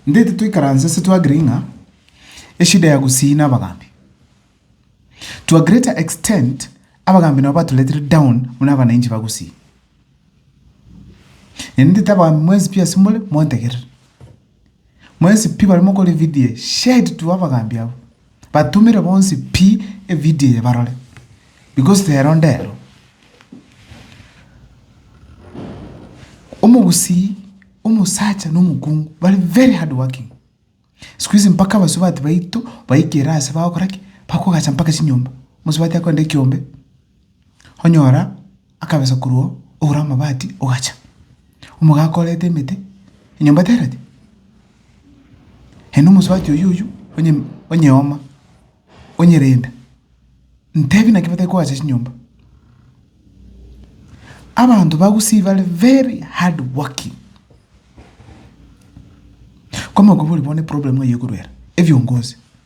Nde titoikaransa ase twagire ng'a eshida ya gusii na abagambi. To a greater extent abagambi nabo baturetire down buna abanainchi ba gusii. Naende nete abagambi mwensi pi ase more montegerere. Mwesi pi baria mokora evidio eye, share it to abagaambi abwo, batumere bonsi pi evidio eye barore, because rero ndero. Omogusii, omosacha na omokungu bare very hard working. Sikuizi mpaka abasubati baito baikire ase bagokora ki? Bakogacha mpaka chinyomba. Omosubati akorenta ekiombe. onyora akabesa korwao ogure amabati ogacha. Omogaka orete emete enyomba tereti? Ere nomosubati oyio oyio onye onyeoma onyerenda. Ntebi naki batari koacha chinyomba? Abanto ba Gusii bare very hardworking. Kwa mogobe ore bono eproblem eye ekorwa ere, ebiongozi.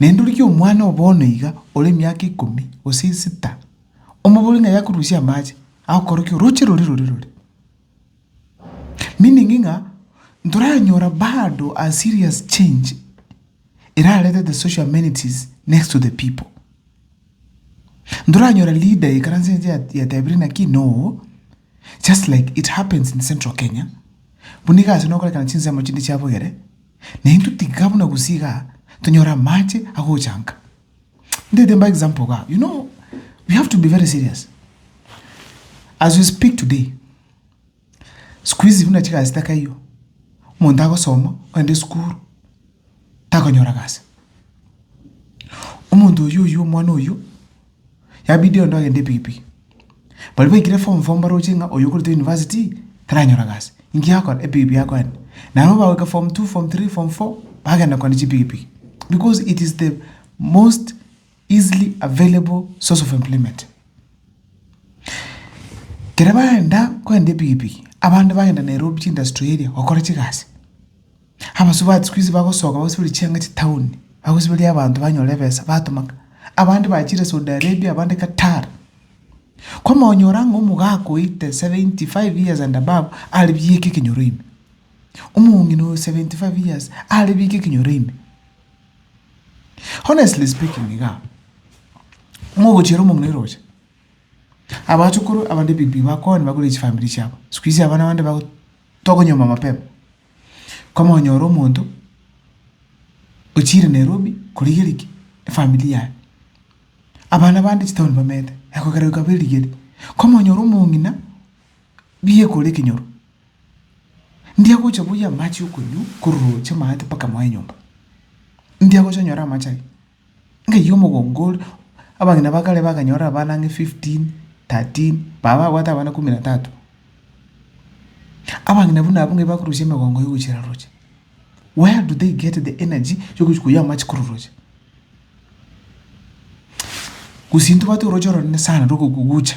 Naende rigia omwana oo bono iga ore emiaka ikomi, gose isita, omobore ng'a yakorusia amache, agokora ki? Oroche rore rore rore. Meaning ng'a ntoranyora bado a serious change erarete the social amenities next to the people. Ntoranyora leader ekaranse inche ya- yatebire naki? No. Just like it happens in central Kenya, buna nigo ase nokorekana chinsemo chinde chiabogere, na intwe tiga buna gusii iga tonyore amache agochanka. Ndete mbae example iga, you know, we have to be very serious. As we speak today, siku hizi buna chigasi takaiyo, omonto agosoma, ogende esukuru, takonyora gasi. Omonto oyio oyio omwana oyio, yabidi onde ogende epikipiki. Baria baikire form four mbaroche ng'a oyo okorenta university taranyora gasi. Inki akore? Epikipiki akoenda. Nabo bagoika form two, form three, form four, bagenda kogenda chipikipiki because it is the most. easily available source of employment. Kere bagenda kogenda epigipigi, abande bagenda Nairobi chiindustry eria gokora chigasi. Abasubati siku hizi bagosoka bagosiberia chianga chitaoni, bagosiberia abanto banyore ebesa batomaka. Abande bachire Saudi Arabia, abande Qatar. Kwama onyora ng'a omogaka oite seventy five years and above are bieka ekenyoro ime, omong'ina oyo seventy five years are bieka ekenyoro ime. Honestly speaking iga, mogochiera omong'ina eroche, abachukuru abande pi pi bakoa nibakore chifamiri chiabo, sikuizi abana bande bago tokonyuoma mapema, komonyora omonto ochiire Nairobi korigeria ki? Efamiri yaye. Abana bande chitaoni bamenyete, ekogera goika berigeri, komonyora omong'ina, biekore ekenyoro. Ndiagocha buya amache okonywa korwa roche maate mpaka moe nyomba. Ndiagocha nyore amache aria. Ng'aiya omogongo ore, abageni ba kare bakanyorire abana ang'e fifteen, thirteen, baba babwate abana kumi na tatu. Abageni buna abwo ng'ai bakorusia emegongo yogochira roche? Where do they get the energy yogochia koyia amache korwa roche? Gose intwe tobwate oroche oronene sana rwa ogogucha.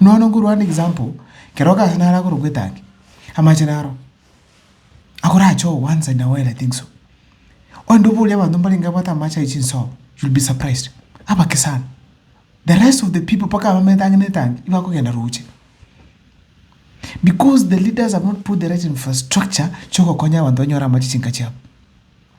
Nonya nkorwa ande example, kero ogacha naro agoro gwetangi, amache naro, akorache oo once in a while I think so. Onde oborie abanto mbarenge babwate amache aywo chinsoro, you'll be surprised, abake sana. The rest of the people mpaka abamo etangi na etangi, nigo bakogenda roche. Because the leaders have not put the right infrastructure, chi'ogokonya abanto banyore amache chinka chiabo.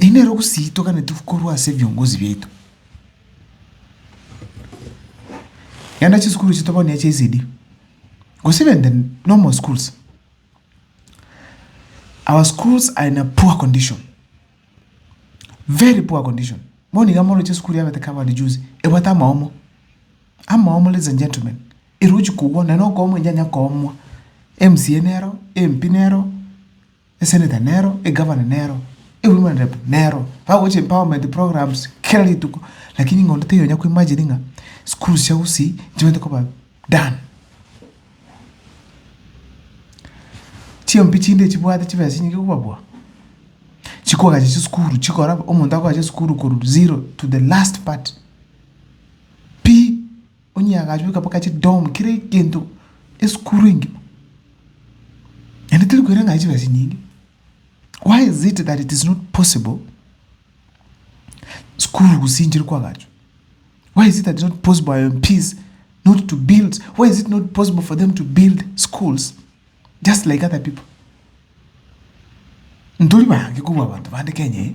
Inero gusii toganetigwe korwa ase ebiongozi biaito. Genda chisukuru chiaito bono echia ECD, gose even the normal schools. Our schools are in a poor condition, very poor condition. Bono iga moroche esukuru ya abataka abande juzi, ebwate amaomo, amaomo ladies and gentlemen. Erochi kogwa, naende okoomwa enyaanya koomwa. MCA nero, MP nero. Eseneta nero, egavana nero, e women rep nero, bagochia empowerment programs kera rituko, lakini ng'a onde taiyo onya koimagine ng'a schools chia gusii nchibete koba done. Chiombe chinde echi chibwate chibesa chinyinge kobabua, chikogacha chisukuru chikora omonto akogacha esukuru korwa zero to the last part pi. Onye agachwa ekaboka chi dom kera egento esukuru engima naende teri koira ng'a chibesa chinyinge why is it that it is not possible sukuru gose inche riko agachwa why is it that is not possible our MPs not to build why is it not possible for them to build schools just like other people ntori bange kobua abanto bande Kenya eye.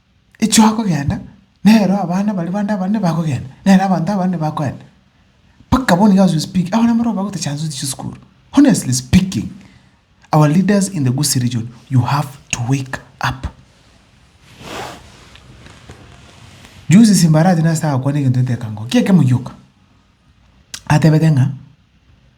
Echio akogenda, nero abana baria bande abanene bakogenda, nere abanto abanene bakoenda. Mpaka bono iga as we speak, abana mbororo bagoita chanzu echi chia esukuru. Honestly speaking, our leaders in the Gusii region, you have to wake up. Juzi Simbarati nase agakwana egento eteka ngo, ki ekemo gioka? Atebete ng'a.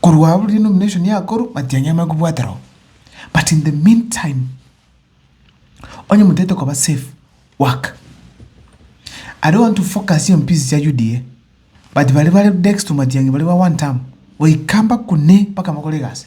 Korwa abwo denomination yakorwa matiang'i amanye kobwatera oo. But in the mean time, onye motagete koba safe, work. I don't want to focus on peace chia UDA, but baria bare next to matiang'i baria ba one term, goika mpaka one mpaka bakore egasi.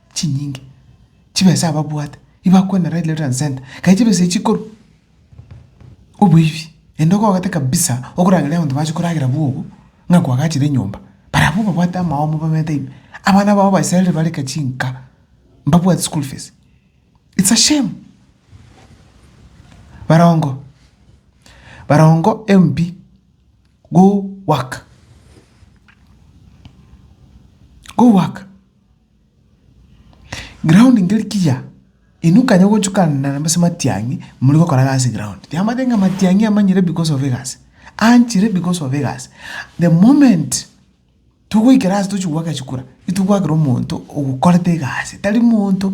chinyinge chibesa ababwate ibakwana right left and centre kai chibesa echi chikoru oboibi ende okogete kabisa okorangeria abanto bache koragera bogo ng'a kwagachire enyomba barabwo babwate amaomo bamanyete ime abana babo baisaririre barenge chinka mbabwati school fees it's a shame barongo barongo MP go work go work. Ground nkeri kiya, inwe kanya ogochukana nambase matiang'i, muri gokora egasi ground. Tiamanyeti ng'a matiang'i amanyire because of egasi, anchire because of egasi. The moment togoikera ase tochia goaka echikura, intwe gwakerwa omonto okorete egasi, tari monto.